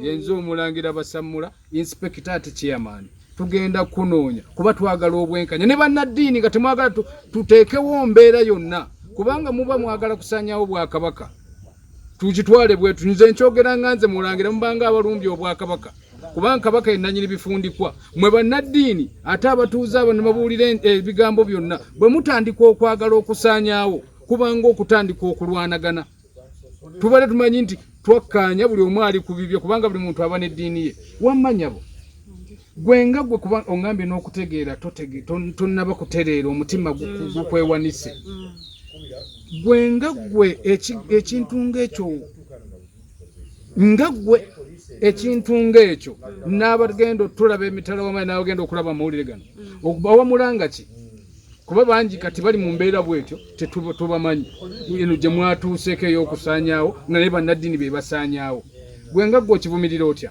yenze omulangira basammula inspekita ati chairman tugenda kunoonya kuba twagala obwenkanya ne bannaddiini nga temwagala tuteekewo mbeera yonna kubanga muba mwagala kusanyawo bwakabaka tukitwale bwetu nze nkyogera nga nze mulangira mubanga abalumbye obwakabaka kubanga kabaka yenanyini bifundikwa mwe bannaddiini ate abatuuze abo ne babuulira ebigambo byonna bwe mutandika okwagala okusaanyaawo kubanga okutandika okulwanagana tubale tumanyi nti twakkaanya buli omu ali ku bibye kubanga buli muntu aba n'eddiini ye wammanyabo gwe nga gwe kuba ongambye n'okutegeera tonnaba kutereera omutima gukwewanise gwe nga gwe ekintu ng'ekyo nga gwe ekintu ng'ekyo n'abagenda otulaba emitala wamayi n'abagenda okulaba amawulire gano bawamulanga ki kuba bangi kati bali mu mbeera bwetyo tetubamanyi eno gye mwatuuseeko ey'okusaanyaawo nga naye bannaddiini be basaanyaawo gwe nga gwe okivumirira otya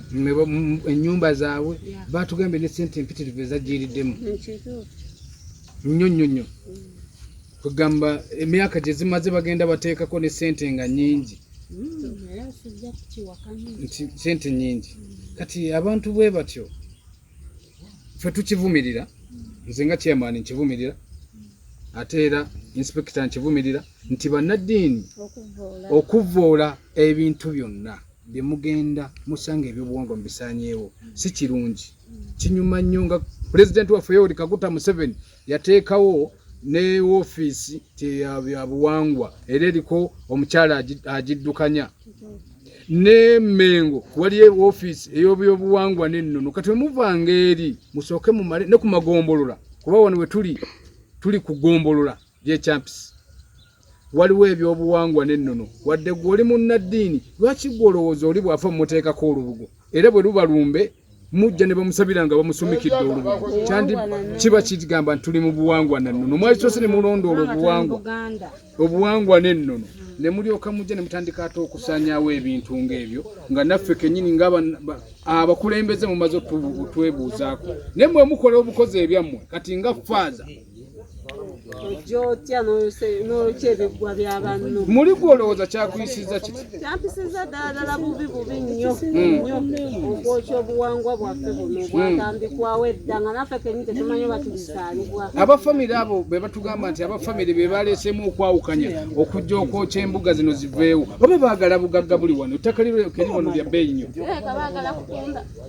ennyumba zaabwe batugambye ne sente empitirivu ezajjiriddemu nnyo nnyo nnyo kugamba emyaka gye zimaze bagenda bateekako ne sente nga nyingi nti sente nyingi kati abantu bwe batyo ffe tukivumirira nze nga chairman nkivumirira ate era inspekita nkivumirira nti bannaddiini okuvvoola ebintu byonna bye mugenda musanga ebyobuwangwa mubisanyeewo si kirungi kinyuma nnyo nga pulezidenti waffe yoweri kaguta museveni yateekawo ne woofiisi tyabuwangwa era eriko omukyala agiddukanya ne mengo waliyo woofiisi eyobyobuwangwa nennono kati wemuvanga eri musooke mumale ne ku magombolola kuba wano wetuli tuli kugombolola gyekyampisi waliwo ebyobuwangwa n'ennono wadde gwe oli munnaddiini lwaki gwe olowooza oli bw'afa mumuteekako olubugo era bwe luba lumbe mujja ne bamusabira nga bamusumikidde olubugo kyandi kiba kigamba nti tuli mu buwangwa na nnono mwali kyose ne mulondoola obuwangwa obuwangwa n'ennono ne mulyoka mujja ne mutandika ate okusaanyaawo ebintu ng'ebyo nga naffe kennyini nga abakulembeze mumaze otwebuuzaako naye mwe mukola obukozi ebyammwe kati nga faaza muli gwe olowooza kyakuyisizza kiti kyampisiza ddala bubi bubi nnyo nnyo okwokya obuwangwa bwaffe buno bwatandikwawo edda nga naffe kenyi tetumanyi batubizaalibwa aba famire abo be batugamba nti aba famire be baleeseemu okwawukanya okujja okwokya embuga zino ziveewo oba baagala bugagga buli wano ettaka liryo keri wano lya bbeeyi nnyo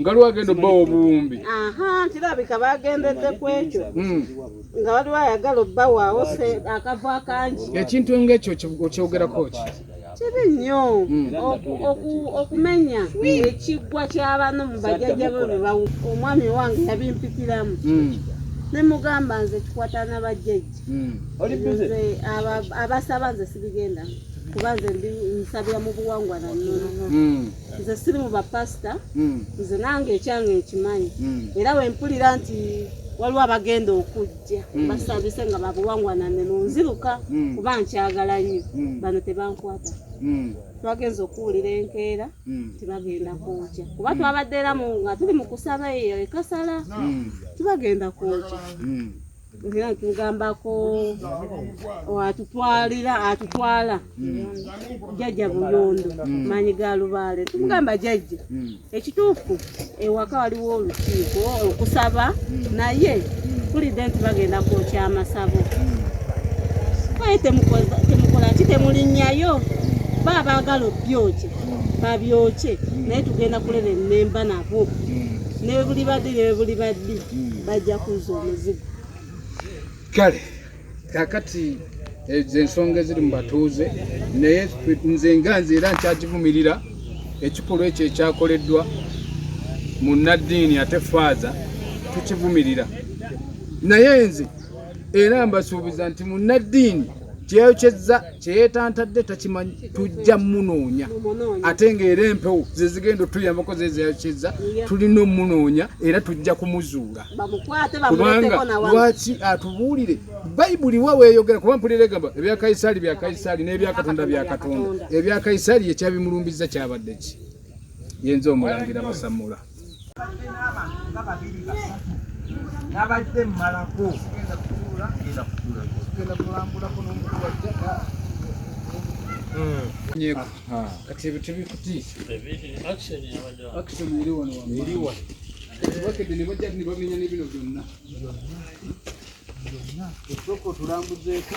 nga lwa agenda obbawa obuwumbi kirabika bagendedde ku ekyo hmm. nga waliwo ayagala obbawaawo akavo akangi ekintu ngaekyo okyogerako ki kibi nnyo hmm. okumenya ekiggwa ky'abantu mu bajajja be bebawu omwami wange yabimpikiramu hmm. ne mugamba nze kikwata na bajjajja abasaba nze sibigenda kuba nze nsabira mu buwangwa na nnono nze siri mu bapasita hmm. nze nange ekyange nkimanyi hmm. era wempulira nti waliwo abagenda okujja hmm. basabise nga babuwangwanane nonziruka kuba nkyagala nnyo bano tebankwata twagenza okuwulira enkeera tibagenda kwokya kuba twabadderamu nga tuli mu kusaba eyo ekasala tibagenda kwokya era ntugambako atutwalira atutwala jajja buyondo manyi ga lubaale tumugamba jajja ekituufu ewaka waliwo olukiiko okusaba naye tulidde nti bagenda kwokya amasabo kaye temukola ki temulinnyayo ba abaagala obyokye babyokye naye tugenda kulera ennemba nabo nebuli badde nebuli baddi bajja kuzza omuzigo kale kakati ezo eh, ensonga eziri mu batuuze naye nze nga nze era nkyagivumirira ekikolwa ekyo ekyakoleddwa mu naddiini ate faaza tukivumirira naye nze era mbasuubiza nti mu naddiini kyeyokyezza kyeyetantadde takimanyi tujja munoonya ate ngaera empewo zezigenda otuyambako zezeyokyezza tulina omunoonya era tujja kumuzuula kubanga lwaki atubuulire bayibuli wa weyogera kuba mpulira egamba ebya kayisaali bya kayisaali n'ebya katonda bya katonda ebya kayisaali yekyabimulumbiza kyabadde ki yenza omulangira basamula nabadde mmalako kati ebyo tebikutiisa bakedde ne bajja ne bamenya ne bino byonna osooka otulambuzeeko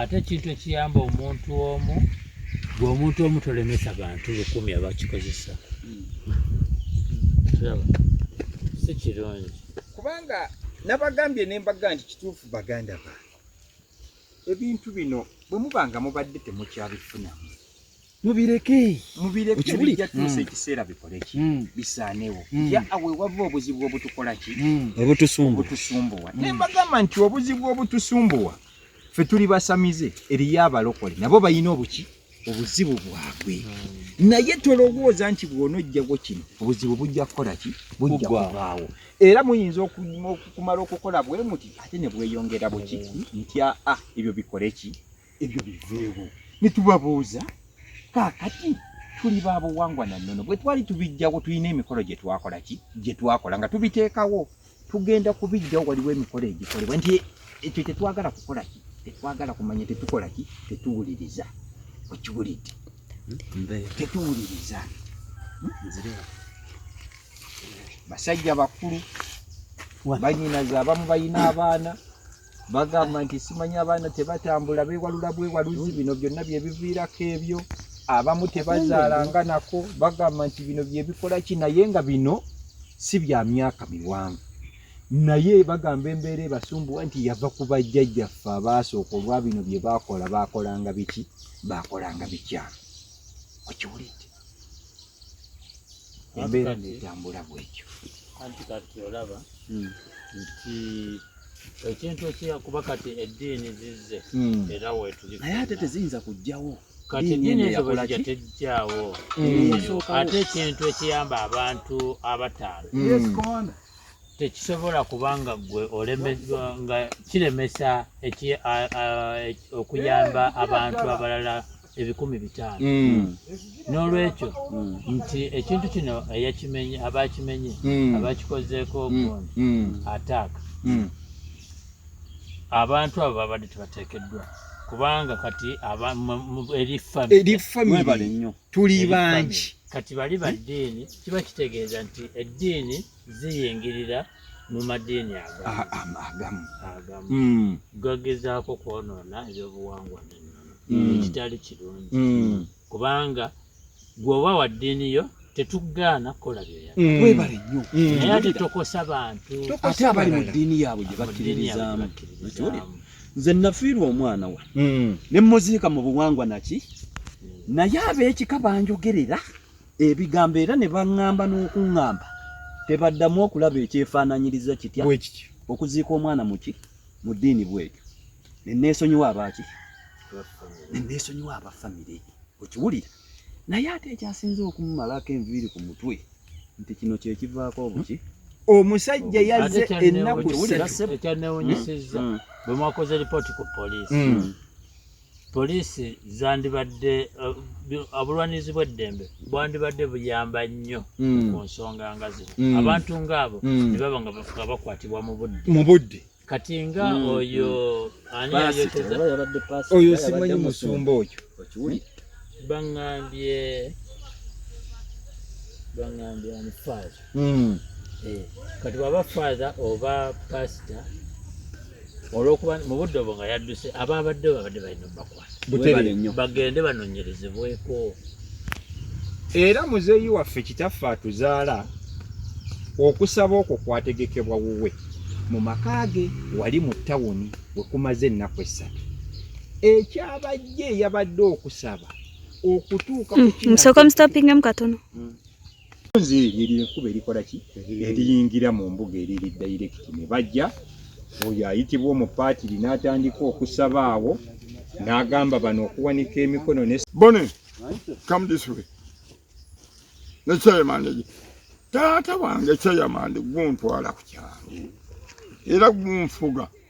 ate ekintu ekiyamba omuntu omu gwe omuntu omu tolemesa bantu lukumi abakikozesa si kirungi kubanga nabagambye nembaga nti kituufu baganda bange ebintu bino bwe muba nga mubadde temukyabifunamu mubireke mubireke bijja tuusa mm. ekiseera bikole ki mm. bisaanewo mm. ya awe wava obuzibu obutukola ki obutusumbuwa naye mbagamba nti obuzibu obutusumbuwa ffe tuli basamize eriyo abalokole nabo balina obuki obuzibu bwabwe naye tolowooza nti bwonojjawo kino obuzibu bujja kukola ki bujja kubaawo era muyinza okumala okukola bwe muti ate ne bweyongera buki ntya a ah, ebyo bikole ki ebyo biveewo ne tubabuuza kaakati tuli ba buwangwa na nnono bwe twali tubijjawo tulina emikolo gye twakola ki gye twakola nga tubiteekawo tugenda kubijjawo waliwo emikolo egikolebwa nti ekyo tetwagala kukola ki tetwagala kumanya tetukola ki tetuwuliriza okiwulidde tetuwuliriza basajja bakulu banyinaze abamu balina abaana bagamba nti simanya abaana tebatambula bewalula bwewaluzi bino byonna byebiviirako ebyo abamu tebazaala nga nako bagamba nti bino byebikola ki naye nga bino si bya myaka miwanvu naye bagamba embeera ebasumbuwa nti yava ku bajjajjaffe abaasooka olwa bino bye baakola baakolanga biki baakolanga bikyamu okiwulidde embeera netambula bwekyo anti kati olaba hmm. nti ekintu ekyakuba kati eddiini zizze hmm. era wetuli naye ate teziyinza kujjawo kati eddiini ezo bwezija tejjawo hmm. ate ekintu ekiyamba abantu abataano tekisobola kuba nga gwe olemezwa nga kiremesa okuyamba abantu abalala ebikumi bitaano mm. n'olwekyo mm. nti ekintu kino eyakimenye abakimenye mm. abakikozeeko ogundi ataaka abantu abo babadde tebateekeddwa kubanga kati erifamily tuli bangi kati bali baddiini kiba kitegeeza nti eddiini ziyingirira mu madiini agamu hmm. gagezaako kwonoona ebyobuwangwa n'ennono hmm. ekitali kirungi hmm. kubanga gweoba wa ddiini yo tetugaana kukola byeyakwebale nnyo naye ate tokosa bantu ate abali mu ddiini yaabwe gye bakkiririzaamu nze nafiirwa omwana wa ne muziika mu buwangwa naki naye ab'ekika banjogerera ebigambo era ne baŋŋamba n'okuŋŋamba tebaddamu okulaba ekyefaananyiriza kitya okuziika omwana muki mu ddiini bwekyo ne neesonyiwa abaaki ne neesonyiwa aba famire okiwulira naye ate ekyasinze okumumalako enviiri ku mutwe nti kino kyekivaako obuki omusajja yazze ennaku ekyanewunyisizza bwe mwakoze lipooti ku poliisi hmm. Poliisi zandibadde uh, obulwanirizi bw'eddembe bwandibadde buyamba nnyo mm. ku nsonga nga zino mm. abantu ng'abo mm. ne baba nga bafuka bakwatibwa mu budde mu budde kati nga mm. oyo mm. ani ayoteza oyo simanyi musumba oyo bangambye bangambye ani faaza mm. eh, kati bwaba father oba pastor olwokuba mu budde obwo nga yadduse aba abadde babadde balina obakwata bagende banonyerezebweko era muzeeyi waffe kitaffe atuzaala okusaba okwo kwategekebwa wuwe mu maka ge wali mu tawuni wekumaze ennaku essatu ekyabajje eyabadde okusaba okutuuka mm, mm, Nze eri ekuba erikola ki eriyingira mu mbuga eriri direct ne bajja oyo ayitibwa omupaatiri n'atandika okusaba awo n'agamba bano okuwanika emikono ne Bone, come this way. Ne chairman ye. Taata wange chairman guntwala ku kyalo. Era gunfuga.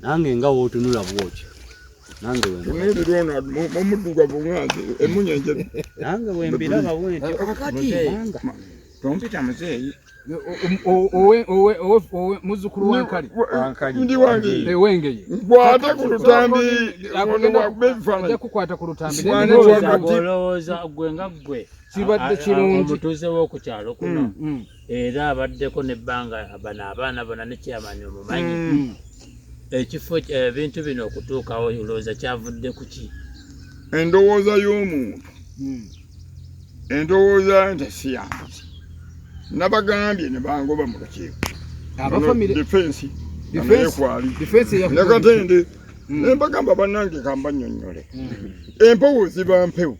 nange nga wotunula bwotyo nange omuddugavu ngange emunyenje nange wembiraba bwentyo tompita muzeeyi muzukulu wankali ndi wange ewengeye nkwata ku lutambi kukwata ku lutambi olowooza gwe nga gwe kibadde kirungi omutuuze w'oku kyalo kuno mm, mm. era abaddeko nebbanga bano abaana bona ne kyamani omumanyi mm. mm. ekifo ebintu eh, bino okutuukawo olowooza kyavudde ku ki endowooza y'omuntu mm. endowooza nti siyansi nabagambye ne bangoba mu lukiiko defensi nayekwali nakatende nembagamba banange kambanyonyole empewo ziba mpewo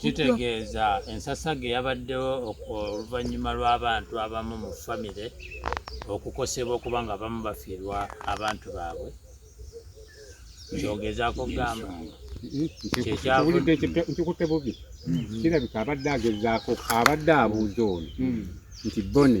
Kitegeeza ensasaga eyabaddewo oluvannyuma lw'abantu abamu mu famire okukosebwa okuba nga abamu bafiirwa abantu baabwe kyogezaako kugamba nkikutte bubi kirabika abadde agezaako abadde abuuza ono nti bone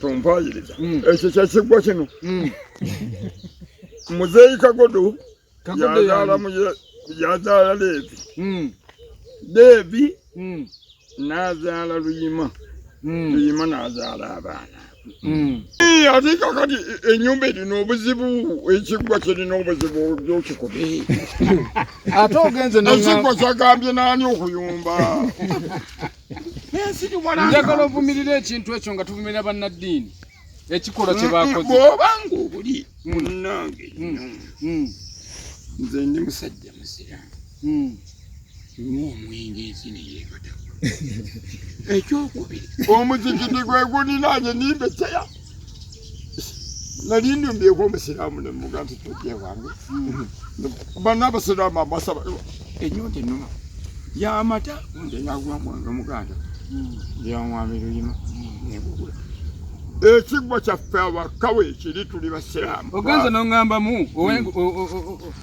tumpayiriza mm. ekyo kyekiggwa kino mm. muzeeyi kagodo yazaala muye yazaala leevi mm. leevi n'azaala luyima luyima n'azaala abaana ate kakati enyumba erina obuzibu ekiggwa kirina obuzibu byokikube ate ogenze ekiggwa kyagambye naani okuyumba njagala ovumirira ekintu ekyo nga tuvumirira bannaddiini ekikolwa kye bakoze bwoba ngaobuli mm. munnange mm. Mm. nze ndi musajja musiraamu nywa omwenge ensi neyeebataku ekyokubiri omuzikiti gwe guninaanye nimbeseya nali ndyumbyeko omusiraamu ne mmuga nti tojja ewange banna abasiraamu amasaba enyonta ennuma yamata nze naguma mwange omuganda yanwami luyima nengugula ekiggwa kyaffe abakawe ekiri tuli basiraamu ogenze noŋŋambamu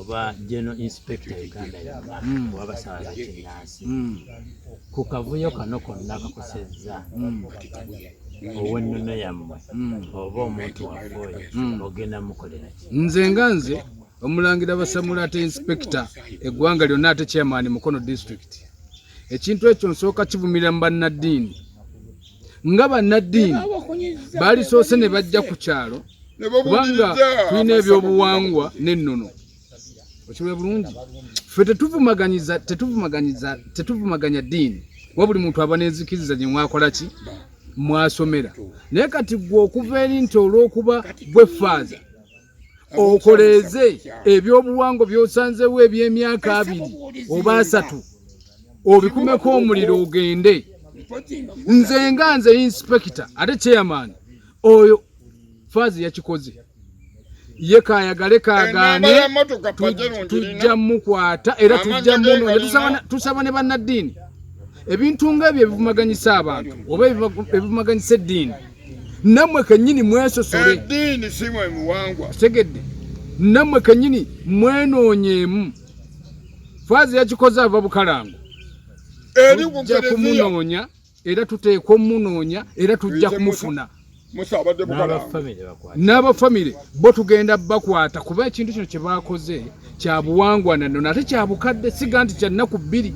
oba general inspector uganda yonna mm. oba basawa bakinnansi mm. ku kavuyo kano konna kakosezza mm. owennono yammwe oba omuntu waffe oyo ogenda mukoleraki nze nga nze omulangira basamula ate inspekita eggwanga lyonna ate chairman mukono district ekintu ekyo nsooka kivumirira mu bannaddiini nga bannaddiini baalisoose ne bajja ku kyalo kubanga tulina ebyobuwangwa n'ennono okiwee bulungi ffe tetuvumaganyiza tetuvumaganyiza tetuvumaganya ddiini kuba buli muntu aba n'enzikiriza gye mwakola ki mwasomera naye kati gwe okuva eri nti olw'okuba gwe faaza okoleeze ebyobuwangwa byosanzewo ebyemyaka abiri oba asatu obikumeko omuliro ogende nze nga nze inspekita ate chairman oyo faazi yakikoze ye kayagale kagane tujja mukwata era tujja muno tusaba ne bannaddiini ebintu nga ebyo ebivumaganyisa abantu oba ebivumaganyisa eddiini namwe kenyini mwesosole edini simwe muwangwa segedde namwe kenyini mwenonyemu fazi yakikoze ava bukalango eri kumunonya era tuteekwa omunoonya era tujja kumufuna n'abafamire bo tugenda bakwata kuba ekintu kino kye baakoze kya buwangwa na nnono ate kya bukadde siga nti kya nnaku bbiri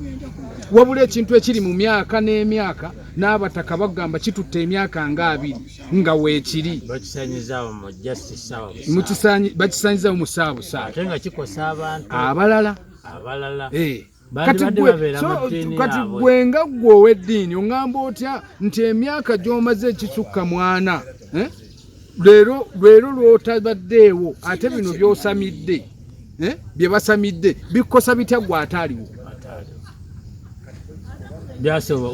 wabula ekintu ekiri mu myaka n'emyaka n'abataka bagamba kitutte emyaka nga abiri nga weekiri bakisanyizawo mu saabusaate abalala abalala eh. kati gwe nga gwe ow'eddiini oŋŋamba otya nti emyaka gy'omaze ekisukka mwana eh? leero leero lw'otabaddeewo ate bino by'osamidde eh? bye basamidde bikukosa bitya gwe ataaliwo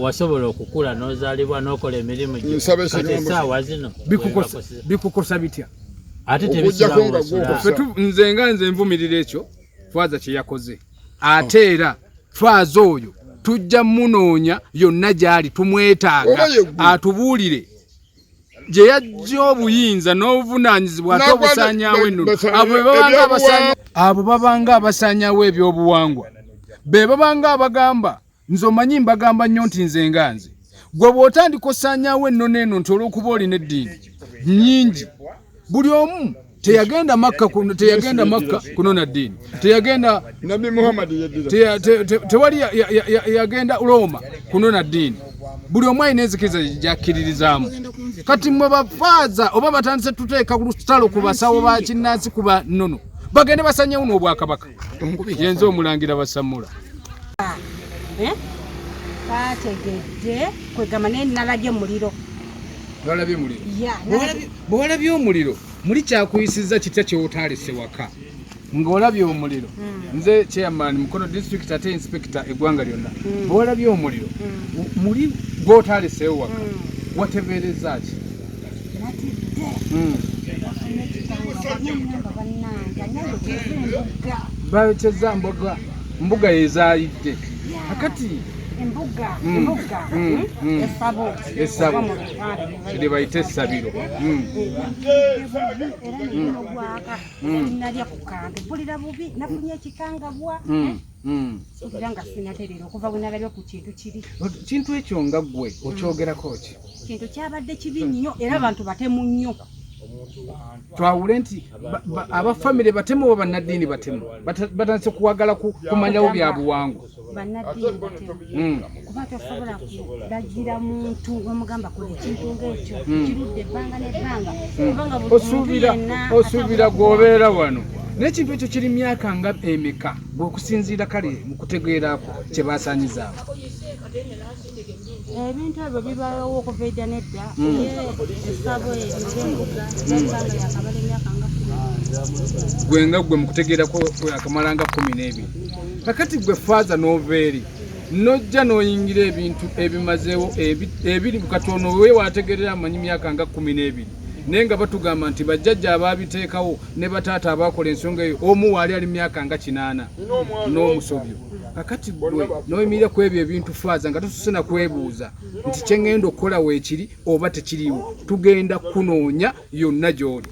wasobola okukula n'ozaalibwa n'okola emirimu gyosaawa zino bikukosa bitya ate tebisulawo nze nga nze nvumirira ekyo fwaza kye yakoze ate era faaza oyo tujja munoonya yonna gy'ali tumwetaaga atubuulire gye yajja obuyinza n'obuvunaanyizibwa ate obusaanyawo ennono abo babanga abasaanyawo ebyobuwangwa be babanga abagamba nze omanyi mbagamba nnyo nti nze nga nze gwe bw'otandika osaanyaawo ennono eno nti olw'okuba olina eddiini nnyingi buli omu teyagenda makka teyagenda makka kunona ddiini teyagenda nabi muhammad tewali yagenda rooma kunona ddiini buli omu alina enzikiriza gyakkiririzaamu kati mwe bafaaza oba batandise tuteeka ku lutalo ku basawo ba kinnansi kuba nnono bagende basanyewo n'obwakabaka yenze omulangira basamula eh? bategedde kwegamba naye nalabye omuliro nalabye omuliro bwolabye omuliro muli kyakuyisiza kitya kyewotaalese waka ng'olabye omuliro hmm. nze chairman mukono district ate inspector eggwanga lyonna hmm. bwolabye omuliro hmm. muli gwotaleseewo waka watebeereza ki bateza mbuga mbuga yezaalidde akati embuga mm. embuga mm. mm. esabo esabo kye bayita essabiro era nalya ku kambe mpulira bubi nafunye ekikangabwa Hmm. era nga sinaterera okuva bwenalabye ku kintu kiri kintu ekyo nga gwe hmm. okyogerako ki kintu kyabadde kibi nnyo era abantu batemu nnyo twawule nti abafamire batemu oba bannaddiini batemu batandise kuwagala kumanyawo byabuwangwa bannaddiini batemu hmm. kuba tosobola kulagira muntu omugamba kola ekintu ngaekyo hmm. kirudde ebbanga nebbanga hmm. kubanga osuubira gwobeera wano nekintu ekyo kiri myaka nga emeka gweokusinziira kale mukutegeerako kyebasanyizaako ebintu ebyo bibawo okuva edda nedda hmm. esabo eyoembuga ebanga yakamala emyaka nga gwe nga gwe mukutegeerako akamalanga kumi n'ebiri kakati gwe faaza noveeri nojja n'oyingira ebintu ebimazeewo ebiri katono wewaategerera amanyi myaka nga kumi n'ebiri naye nga batugamba nti bajjajja abaabiteekawo ne bataata abaakola ensonga eyo omu waali ali myaka nga kinaana n'omusobyo kakati gwe n'oyimirira ku ebyo ebintu faaza nga tususe na kwebuuza nti kye ŋŋenda okukola weekiri oba tekiriiwo tugenda kunoonya yonna gy'oli